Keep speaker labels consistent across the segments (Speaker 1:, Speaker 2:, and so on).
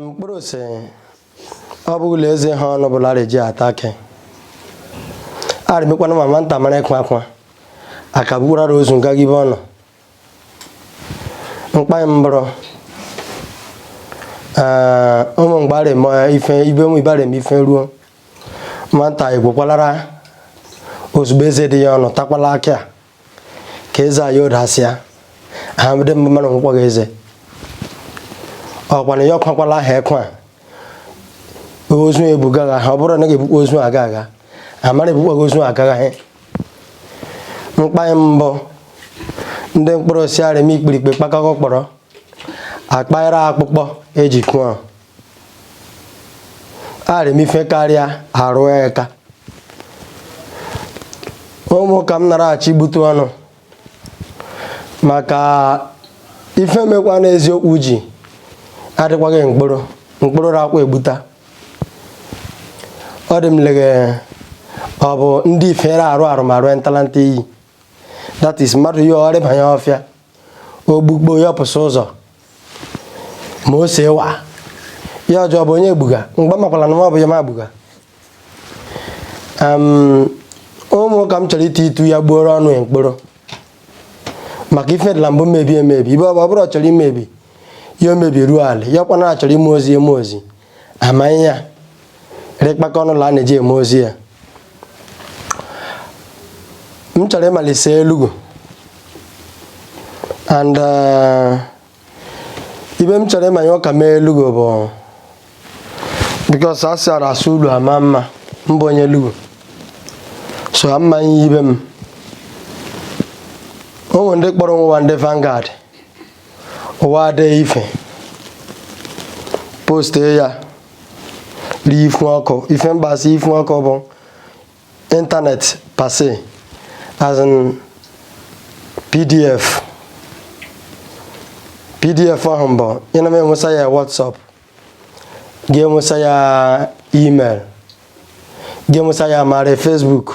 Speaker 1: Nkporo sị ọ bụ ụlọ eze ha ọnụ bụla reji ata akị arịmekwana ma nwanta mara ịkwa akwa akabugwurara ozu ngaga ibe ọnụ mkpanyị mbụrụ ee ụmụ mgbe arịm ife ibe ụmụ ibe arịm ife ruo nwanta igwekwalara ozugbo eze dị ya ọnụ takwala akị a ka eze anyị odasịa ha mede mgbe mmanụ nkwụkwọ gị eze ọkwana ya ọkwakwala aha ekwe a ozu ebuga agha ha ọ bụrụ na ga-ebukwa ozu aga agha amara ebukwaghị ozu aga agha mkpa mbụ ndị Nkporo sị arịm ikpirikpe kpakọkọ kpọrọ akpara akpụkpọ eji kụọ arịm ife karịa arụ eka ụmụ ka m naraghachi gbute ọnụ maka ife mekwa n'eziokwu ji adịkwaghị Nkporo Nkporo rakwa egbuta ọ dị m leghe ọ bụ ndị ifere arụ arụ ma rụọ ntalanta iyi that is mmadụ ya ọrịbanye ọfịa ogbugbo ya pụsị ụzọ ma o see wa ya ọjọọ bụ onye egbuga mgbe makwala na ọ bụ ya ma agbuga ụmụ ka m chọrọ iti itu ya gbuoro ọnụ ya Nkporo maka ife dịla mbụ mebi emebi ibe ọ bụrụ ọ chọrọ imebi ya emebi ruo ala ya ọkwa na achọrọ ime ozi eme ozi amaghị ya rịkpakọ ọnụ la a na-eji eme ozi ya m chọrọ ịmalise Elughu and uh, ibe m chọrọ ịmanye ụka mee Elughu bụ because a sịara asụ ulu ama mma m bụ onye Elughu so amaghị ibe m o nwere ndị kpọrọ onwe wa ndị Vanguard wa dee ife post ya rie ifu ọkụ ife mgbasa ifu ọkụ bụ internet per se as in pdf pdf ahụ mbụ ị na m enwesa ya whatsapp ga-enwesa ya email ga-enwesa ya mara facebook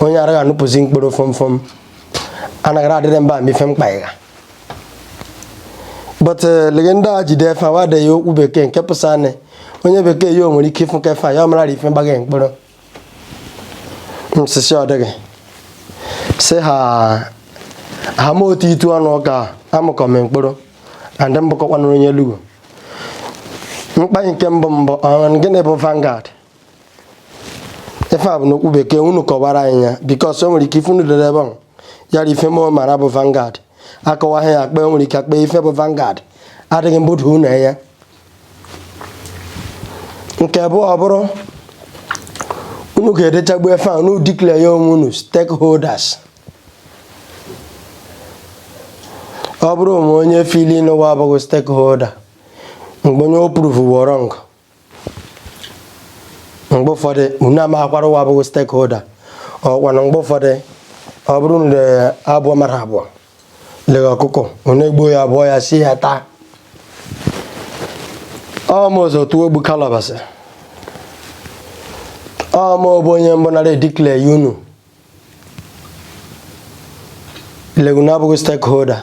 Speaker 1: onye araghị anụpụzi Nkporo fọmfọm anaghị adịrị mba ma ife mkpa ịgha but eh, lege ndị a ji dee ife wa dee ya okwu bekee nke pụsa anị onye bekee ya o nwere ike ịfụ kefe ya ọ mara ife mgbaghị Nkporo nsisi ọ dịghị si ha ha ma otu itu ọnụ ụka amụkọ m Nkporo and m bụkọkwanụrụ onye Elughu mkpa nke mbụ bụ gịnị bụ Vanguard ife a bụ n'okwu bekee unu kọwara anyị ya because o nwere ike ife unu dere ebe ahụ yara ife mụ mara bụ Vanguard akọwaghị ya akpa o nwere ike akpa ife bụ Vanguard adịghị mbụda unu ya nke bụ ọ bụrụ unu ga-edechagbu efe a unu declare ya onwe unu stakeholders ọ bụrụ ma onye fili n'ụwa abụghị stakeholder mgbe onye o prove wrong mgbe ụfọdụ unu amaghịkwara ụwa abụghị stakeholder ọkwa na mgbe ụfọdụ ọ bụrụ na abụọ mara abụọ lere ọkụkọ unu egbuo ya abụọ ya sie ya taa ọmụzọ tụọ egbu kalabasị ọmụ bụ onye mbụ nara declare ya unu legu na abụghị stakeholder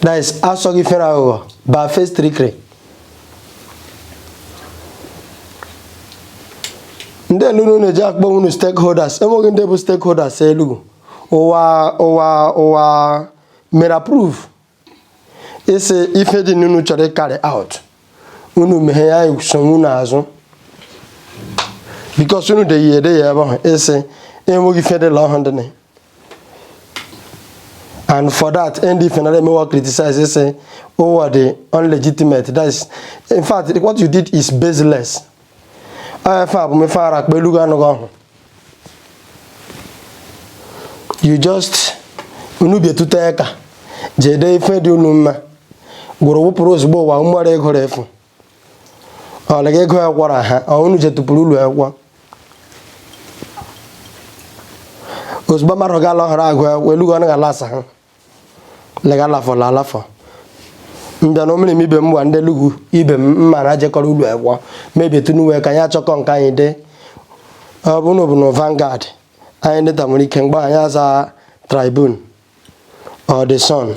Speaker 1: that is asọ gị fere aghụghọ barefaced trickery ndị elunu na-eji akpọ unu stakeholders enweghị ndị bụ stakeholders elugu ụwa ụwa ụwa mere approve ịsị ife dị n'unu chọrọ ịcarry out unu meghe ya so unu azụ because unu deghị ede ya ebe ahụ ịsị enweghị ife dị la ọhụ dị and for that ndf nara emewa criticize sị ụwa dị unlegitimate that is in fact what you did is baseless ife a bụ mefe ara akpa elu anụghị ọhụ you just unu bietute ya ka jee dee ife dị unu mma gwụrụ wụpụrụ ozugbo ụwa mmụọrọ ịgụrụ efu ọ na ego akwụkwọ na ha unu jetụpụrụ ụlọ akwụkwọ ozugbo mmadụ ga-ala ọhụrụ agụ akwụkwọ elugo ọnụ ga-ala asa ha lega alafọ la alafọ mbịa na omere m ibe m gwa ndị lugwu ibe m mma na jekọrọ ụlọ akwụkwọ maybe etu n'uwe ka anyị achọkọ nke anyị dị ọ bụrụ na ọ bụ na Vanguard anyị dịta nwere ike mgbe anyị aza Tribune ọdịsọn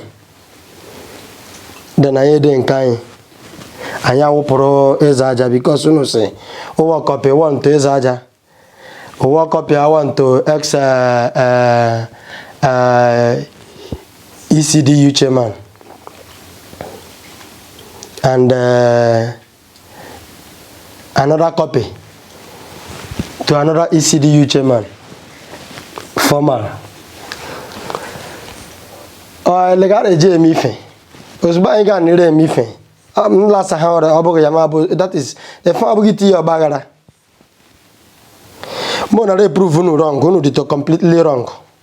Speaker 1: dị na ihe dị nke anyị anyị awụpụrụ eze aja bikos unu si ụwa kọpị ụwa nto eze aja ụwa kọpị awa nto x ECDU chairman and uh, another copy to another ECDU chairman formal legara eji eme ife ozugbo anyị ga nire eme ife m lasa ha ọrịa ọ bụghị ya ma bụ that is efe ọ bụghị tinye ọgba aghara mụ nara eprove unu wrong unu dị to completely wrong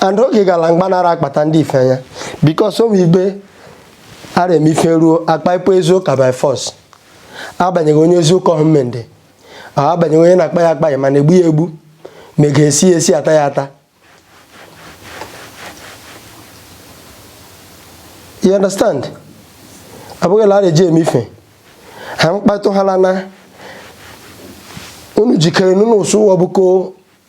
Speaker 1: and oge gala mgba nara akpata ndị ife anya because onwe ibe ara eme ife ruo akpa ịpụ ezi ụka by force agbanyeghị onye ezi ụka ọhụ mendị agbanyeghị onye na-akpa ya akpa ya mana egbu ya egbu ma ị ga-esi ya esi ata ya ata you understand abụghịla ara eji eme ife ha mkpatụ ha lana unu jikere n'unu so wa bụkọ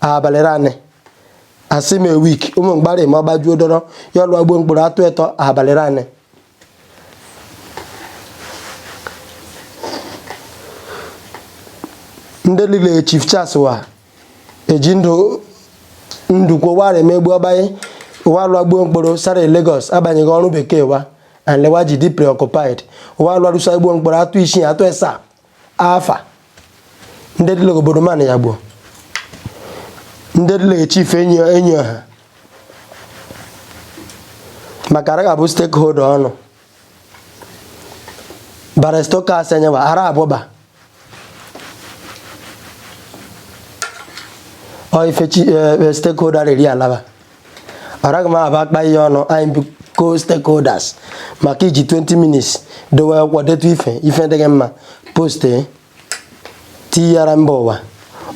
Speaker 1: abalị ranị asị m week ụmụ mgbari ma gbajuo dọrọ ya ọlụ agbo mkpụrụ atụ etọ abalị ranị ndị lile chief Charles wa eji ndụ kwowara emegbu ọbanye ụwa lụ agbo mkpụrụ sara Lagos agbanyeghị ọrụ bekee wa and le wa ji dị preoccupied ụwa lụ arụsa agbo mkpụrụ atụ isii atụ esaa afa ndị dịla obodo mana ya gbuo ndị dị lege chief enyi enyi ọha maka ara ga-abụ stakeholder ọnụ barrister Okas enyewa ara abụba ọ ife chi eh, eh, stakeholder riri alaba araghị m abakpa ya ọnụ anyị bụ co-stakeholders maka iji 20 minutes dowe wa detu ife ife dịghị mma post tinyara mba ụwa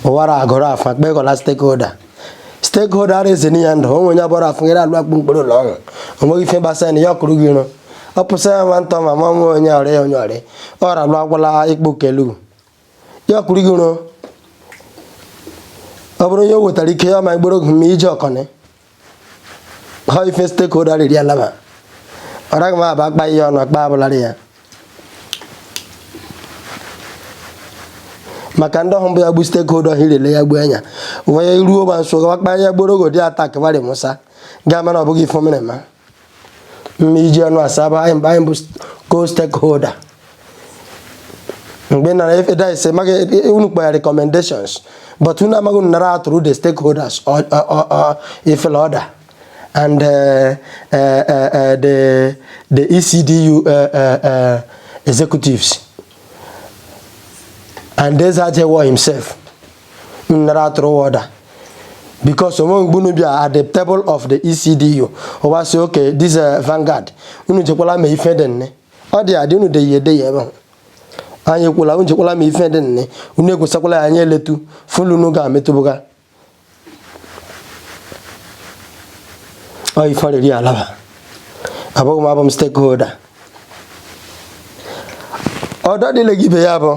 Speaker 1: ụwa ara agụrụ afa kpekọla stakeholder stakeholder ara eze n'ihe ndụ onwe onye abụrụ afọ nyere alụ agbo mkpụrụ ụlọ ọhụ onweghị ife gbasara na ya ọkụrụ gị iro ọ pụsa ya nwantọ ma ma nwe onye ọrịa onye ọrịa ọ ralụ agwala ikpo kelu ya ọkụrụ gị iro ọ bụrụ onye o wetara ike ya ma igboro oge ma ije ọkọnị ha ife stakeholder riri alaba ọ raghị m abakpa ya ọnụ akpa abụlarị ya maka ndị ọhụrụ bụ ya gbu stakeholder ha irele ya gbuo anya wee ruo ma nso gawa kpa ya gboro ogo dị attack varị musa ga-ama na ọ bụghị ife mere ma ma iji ọnụ asaba anyị mgbe anyị bụ co-stakeholder mgbe nara efe dice maghị unu kpọya recommendations but unu amaghị unu nara atụrụ the stakeholders ifele order and uh, uh, uh, uh, the, the ECDU uh, uh, uh, executives and Desajewo himself nara atụrụ order because onwe mgbe unu bịa at the table of the ECDU ụwa sị okay this uh, Vanguard unu jekwala me ife dị nne ọ dị adị unu deyi edeyi ebe ahụ anyị ekwula unu jekwala me ife dị nne unu ekwesakwala ya anyị eletu fulu unu ga-ametụbụga ọ ife ọrịrị alaba abụghị m abụ m stakeholder ọdọ dịle gị ibe ya bụ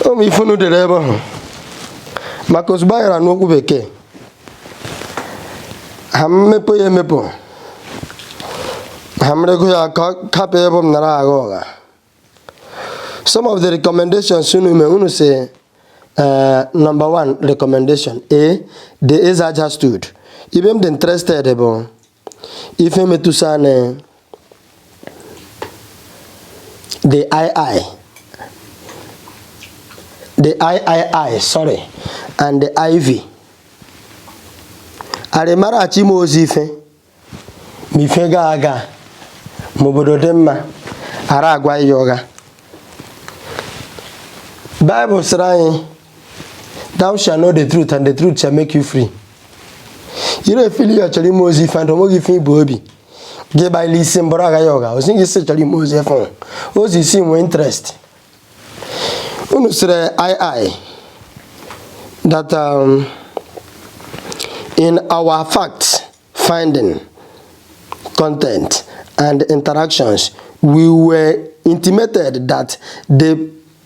Speaker 1: ụmụ ife unu dere ebe ahụ maka ozugbo a gara n'okwu bekee ha m mepụ ya emepụ ha ra ka ọ bụ m nara agha ụgha some of the recommendations unu mee unu si eh, number one recommendation a the Eze Aja stool ibe m dị interested bụ ife metụsa na the ii the iii sorry and the iv arịmara achọ ime ozi ife ma ife ga aga ma obodo dị mma ara agwa ya ụgha baịbụl sịrị anyị thou shall know the truth and the truth shall make you free ire efili ya chọrọ ime ozi ife ndụ onweghị ife i bu obi gị gbaila isi mbụrụ agwa ya ụgha ozi gị si chọrọ ime ozi ife ozi isi nwee interest unu sịrị ii that um, in our fact finding content and interactions we were intimated that the